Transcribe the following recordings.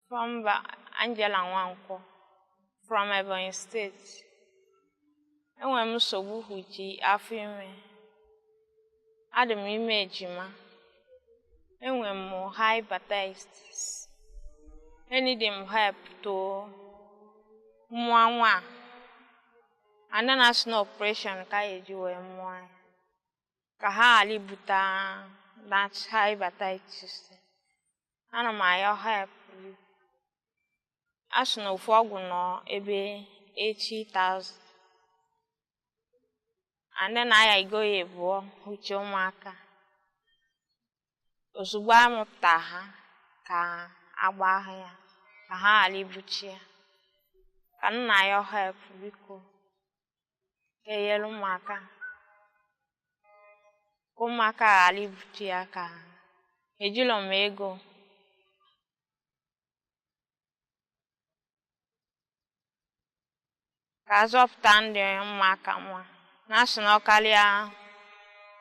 Afa m bụ Angela Nwankwo from Ebonyi steeti. Enwere m nsogbu huji afọ ime. Adị m ime ejima. Enwere m hepatitis. Enidi m help to mụọ nwa a. Ana na a sị na operation ka a ya-eji wee mụọ ya. Ka ha ghala ibuta that hepatitis. ana m ayọ help biko a sị na ofu ọgwụ nọ ebe 80,000 and then a ya igo ya ịbụọ uche ụmụaka ozugbo a mụpụta ha ka a gbaa ha ya ka ha ghala ibuchi ya ka m na-ayọ help biko ka e nyere mụ aka ka ụmụaka ghala ibute ya ka ejilọ m ego ka a zọpụta ndụ ụmụaka nwa na a sị na ọ kalịa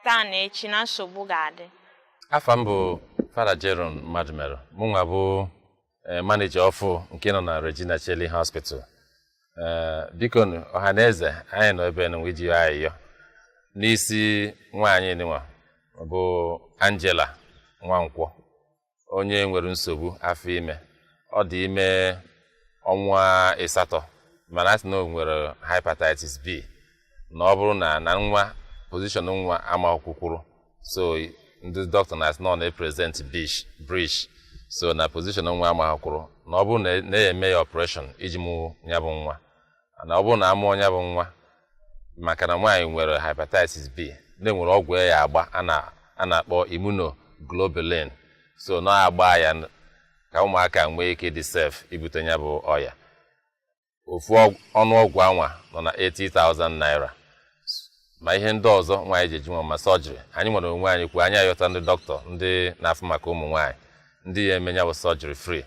taa na echi na nsogbu ga-adị afa m bụ fada Jerome Madumelu mụnwa bụ eh, manija ọfụụ nke nọ na Regina Caeli Hospital eh, biko ọha na eze anyị nọ ebe nụnwa iji ayịyọ n'isi nwaanyị nụnwa bụ Angela Nwankwọ onye nwere nsogbu afọ ime ọ dị ime ọnwa ịsatọ mana a sị na o nwere hepatitis B na ọ bụrụ na na nwa pozishọn nwa amahọ kwụkwụrụ so ndị doctor na-asị na ọ na-eprezent breech so na pozishọn nwa amahọ kwụrụ na ọ bụrụ na a ya-eme ya ọpreshọn iji mụ ya bụ nwa na ọ bụrụ na a mụọ ya bụ nwa maka na nwaanyị nwere hepatitis b na e nwere ọgwụ a ya-agba a na-akpọ immunoglobulin so na a gbaa ya ka ụmụaka nwee ike dị sef ibute ya bụ ọya ofu ọnụ ọgwụ anwa nọ na 80,000 naira ma ihe ndị ọzọ nwaanyị ji eji nwa ma sọjiri anyịnwa n'onwe anyị kwuo anyị ayọta ndị doctor ndị na-afụ maka ụmụ nwaanyị ndị ya-eme ya bụ sọjiri fri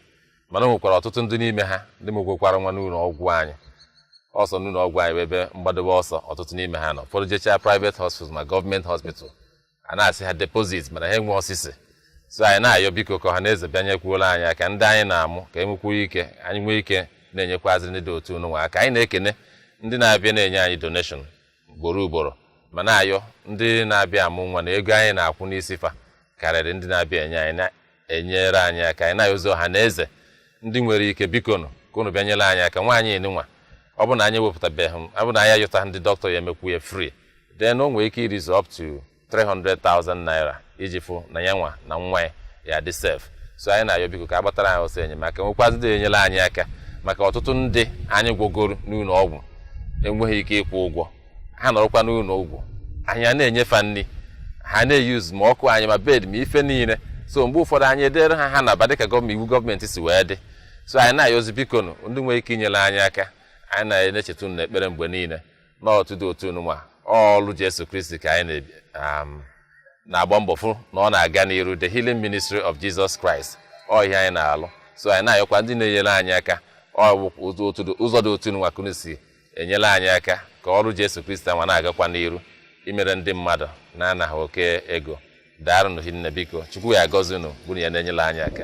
mana o nwekwara ọtụtụ ndị n'ime ha ndị mụgwokwara nwa n'ụlọ ọgwụ anyị ọsọ n'ụlọ ọgwụ anyị bụ ebe mgbadobe ọsọ ọtụtụ n'ime ha nọ ụfọdụ jechaa private hospital ma gọọmenti hospital a na-asị ha depozit mana ha enwehọ sisi so anyị na-ayọ biko ka ọha na eze bịa nyekwuola anyị aka ndị anyị na-amụ ka e nwekwuo ike anyị nwee ike na-enyekwazịrị ndị dị otu nụnwa aka anyị na-ekene ndị na-abịa na-enye anyị doneshọn ugboro ugboro ma na-ayọ ndị na-abịa amụ nwa na ego anyị na-akwụ n'isi fa karịrị ndị na-abịa enye anyị enyere anyị aka anyị na-ayọzi ọha na eze ndị nwere ike biko nụ ka unu bịa nyere anyị aka nwaanyị nịnwa ọ bụ na anyị ewepụtabeghị ọ bụ na anyị ayọta ndị dọkịta ya emekwu ya free then o nwere ike irizu up to 300,000 naira iji fụ na ya nwa na nwa ya ya dị safe so anyị na-ayọ biko ka a gbatara anyị ọsọ enyemaka nwekwazị ndị enyere anyị aka maka ọtụtụ ndị anyị gwọgoro n'ụlọ ọgwụ enweghị ike ịkwụ ụgwọ ha nọrọkwa n'ụlọ ọgwụ anyị a na-enye fa nri ha na-use ma ọkụ anyị ma bed ma ife niile so mgbe ụfọdụ anyị edere ha ha naba dịka iwu gọọmenti si wee dị so anyị na-ayọzi biko nụ ndị nwere ike inyere anyị aka anyị na-echeta unu n'ekpere mgbe niile na otu dị otu nwa ọlụ Jesu Kristi ka anyị um, na-agba mbọ fụ na ọ na-aga n'iru the healing ministry of Jesus Christ ọ ihe anyị na-alụ so anyị na-ayọkwa ndị na-enyere anyị aka ọ bụ ụzọ dị otu nwa ka unu si enyela anyị aka ka ọrụ Jesu Kristi anwa na-agakwa n'iru imere ndị mmadụ na-anaghị oke ego daarụnụ hinne biko chukwu ya agọzi unu bụrụ ya na-enyela anyị aka